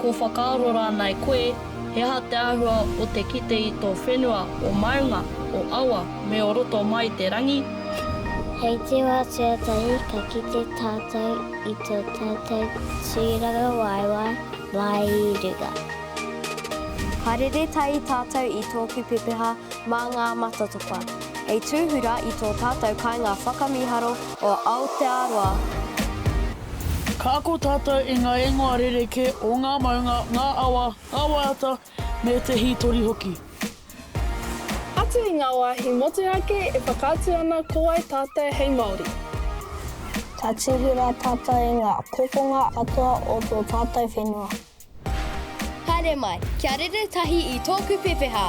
Ko whakaaro rānei koe, he aha te āhua o te kite i tō whenua o maunga, o awa, me o roto mai i te rangi? Hei te wā tuatahi ka kite tātou i tō tātou tūrangawaewae mai i runga. Ka rere tahi tātou i tōku pepeha mā ngā matatopa, hei tūhura i tō tātou kāinga whakamīharo o Aotearoa. Ka ako tātou i ngā ingoa rerekē o ngā maunga, ngā awa, ngā waiata, me te hītori hoki. Atu i ngā wāhi motu ake e whakaatu ana ko wai tātou hei Māori. Ka tuhi rā tātou i ngā kokonga katoa o tō tātou whenua. Haere mai, kia rere tahi i tōku pepeha!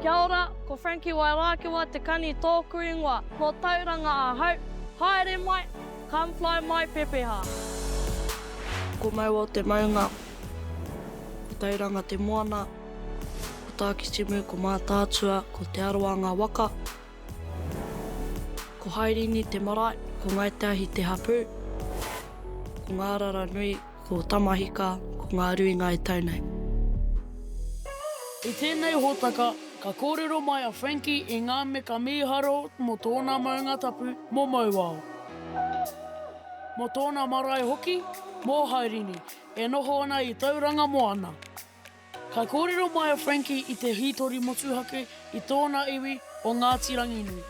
Kia ora, ko Frankie Wairākewa te kani tōku ingoa. Ko Tauranga ahau. Haere mai, come fly my pepeha. Ko Mauao te maunga. Ko Tauranga te moana. Ko Tākitimu, ko Mātaatua, ko Te Arawa ngā waka. Ko Hairini te marae, ko Ngāi Te Ahi te hapū, ko Ngārara nui, ko Tamahika, ko Ngā Rui ngā e tau nei. I tēnei hōtaka, ka kōrero mai a Frankie i ngā meka mīharo mō tōna maunga tapu, mō Mauao, mō tōna marae hoki, mō Hairini, e noho ana i Tauranga Moana. Ka kōrero mai a Frankie i te hītori motuhake i tōna iwi o Ngāti Ranginui.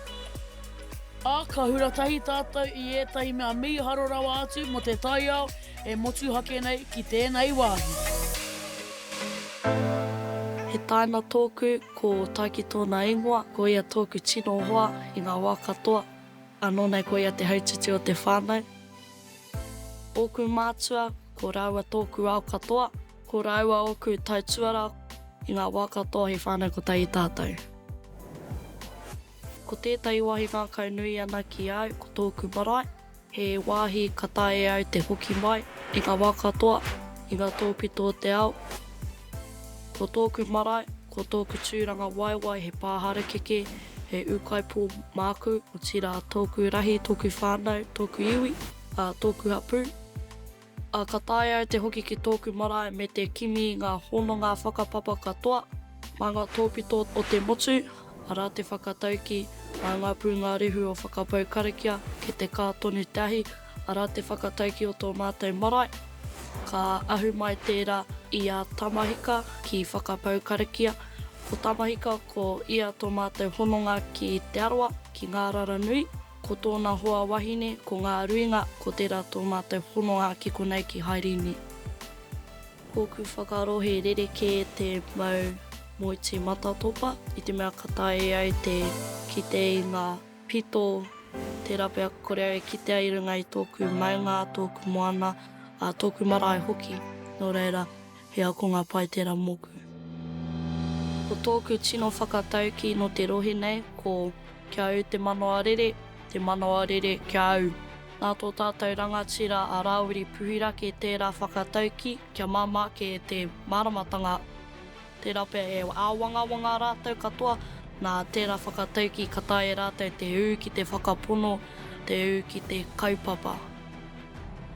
Ā, ka hura tahi tātou i ētahi mea mīharo rawa atu mō te taiao e motuhake nei ki tēnei wāhi. He tāina tōku, ko Taiki tōna ingoa, ko ia tōku tino hoa i ngā wā katoa, anō nei ko ia te hautiti o te whānau. Ōku mātua, ko rāua tōku ao katoa. Ko rāua ōku tai tuarā. I ngā wā katoa he whānau ko tai i tātou. Ko tētahi wāhi ngākau nui ana ki a au ko tōku marae. He wāhi ka taea e au te hoki mai i ngā wā katoa, i ngā tōpito o te ao. Ko tōku marae, ko tōku tūranga waewae he pā harakeke, he ūkaipō māku, otirā tōku rahi, tōku whānau, tōku iwi, ā, tōku hapū. Ā, ka taea e te hoki ki tōku marae me te kimi ngā hononga whakapapa katoa, mā ngā tōpito o te motu, arā te whakataukī, mā ngā pūngārehu o whakapau karakia ki te kā tonu te ahi, arā te whakataukī o tō mātou marae, ka ahu mai tērā i a Tamahika ki whakapau karakia, ko Tamahika ko ia tō mātou hononga ki Te Arawa, ki Ngārara nui. Ko tōna hoa wahine, ko Ngā Ruinga, ko tērā tō mātou hononga ki konei ki Haerini. Kōku whakaaro he rerekē te mau moeti matatopa i te mea ka taea au te kite i ngā pito, tērā pea ka kore au e kitea i runga i tōku maunga, tōku moana, ā, tōku marae hoki. Nō reira. He akonga pai tera moku. Ko tōku tino whakatauki no te rohe nei ko Kia au te manawa rere, te manawa rere kia au. Nā tō tātou rangatira a Rāwiri Puhirake tērā whakatauki kia māmā ake e te māramatanga, tērā pea e āwangawanga rātou katoa, nā tērā whakatauki ka taea e rātou te ū ki te whakapono, te ū ki te kaupapa.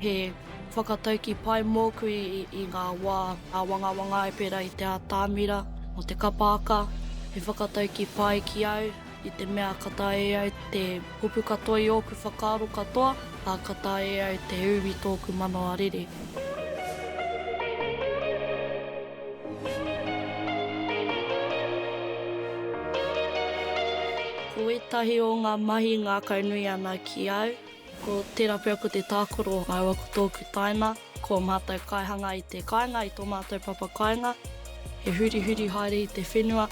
He whakataukī pai mōku i ngā wā āwangawanga e pērā i te ātamira o te kapa aka. He whakataukī pai ki au i te mea ka taea e au te kupu katoa i ōku whakaaro katoa, ā, ka taea e au te ū i tōku manawa rere. Ko ētahi o ngā mahi ngākau nui ana ki au, Ko tērā pea ko te tākaro rāua ko tōku taina, ko ō mātou kaihanga i te kāinga, i tō mātou papa kāinga, he hurihuri haere i te whenua.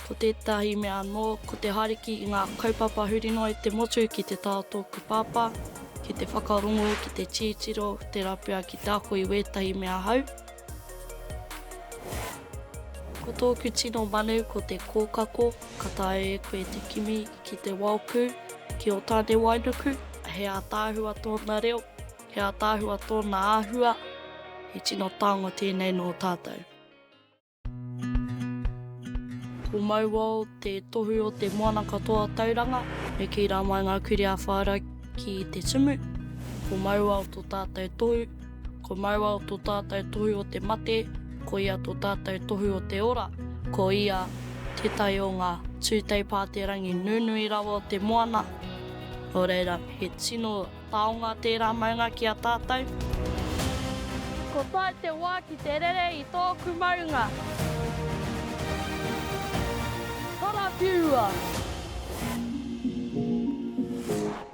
Ko tētahi mea anō, ko te haere ki ngā kaupapa huri noa i te motu ki te tā o tōku pāpā, ki te whakarongo, ki te titiro, tērā pea ki te ako i wētahi mea hou. Ko tōku tino manu ko te kōkako, ka taea e koe te kimi, ki te Waoku, ki Otanewainuku, he ātaahua tōna reo, he ātaahua tōna āhua, he tino tango tēnei nō tātou. Ko Mauao te tohu o te moana katoa Tauranga, me kī rā mai ngā kurī a Whāra ki te tumu, ko Mauao tō tātou tohu. Ko Mauao tō tātou tohu o te mate, ko ia tō tātou tohu o te ora, ko ia tētahi o ngā tūtei pāterangi nunui rawa o te moana, nō reira, he tino taonga tērā maunga ki a tātou. Ko tae te wā ki te rere i tōku maunga. Karawhiua!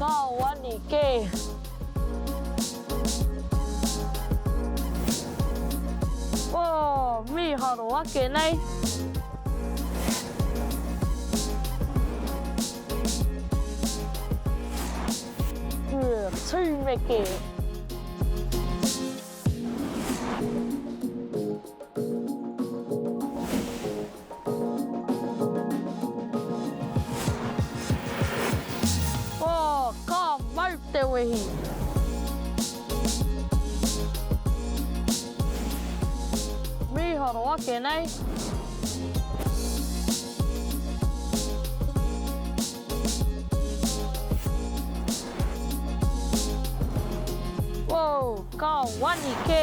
Kaoani kē! Oh, mīharo ake nei! Tūmeke! Oh, ka mau te wehi! Mīharo ake nei! Woo, ka wani kē!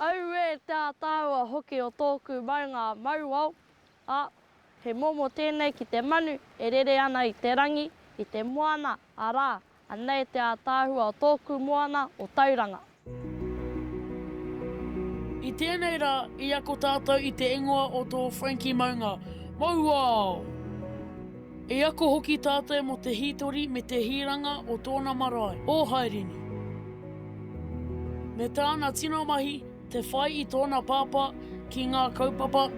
Auē te ātaahua hoki o tōku maunga mauao, ā, he momo tēnei ki te manu e rere ana i te rangi, i te moana, arā, Anei te ātaahua o tōku moana o Tauranga. I tēnei rā, i ako tātou i te ingoa o tō Frankie Maunga, Mauao! I ako hoki tātou mō te hītori me te hiranga o tōna marae, o Haerini, me tāna tino mahi, Te whai i tōna pāpā ki ngā kaupapa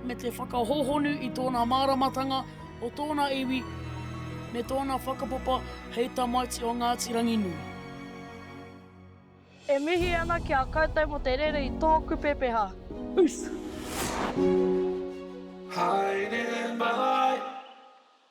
me te whakahōhonu i tōna māramatanga o tōna iwi me tōna whakapapa hei tamaiti o Ngāti Ranginui. E mihi ana ki a koutou mo te rere i tōku pepeha. Peace. Haere mai.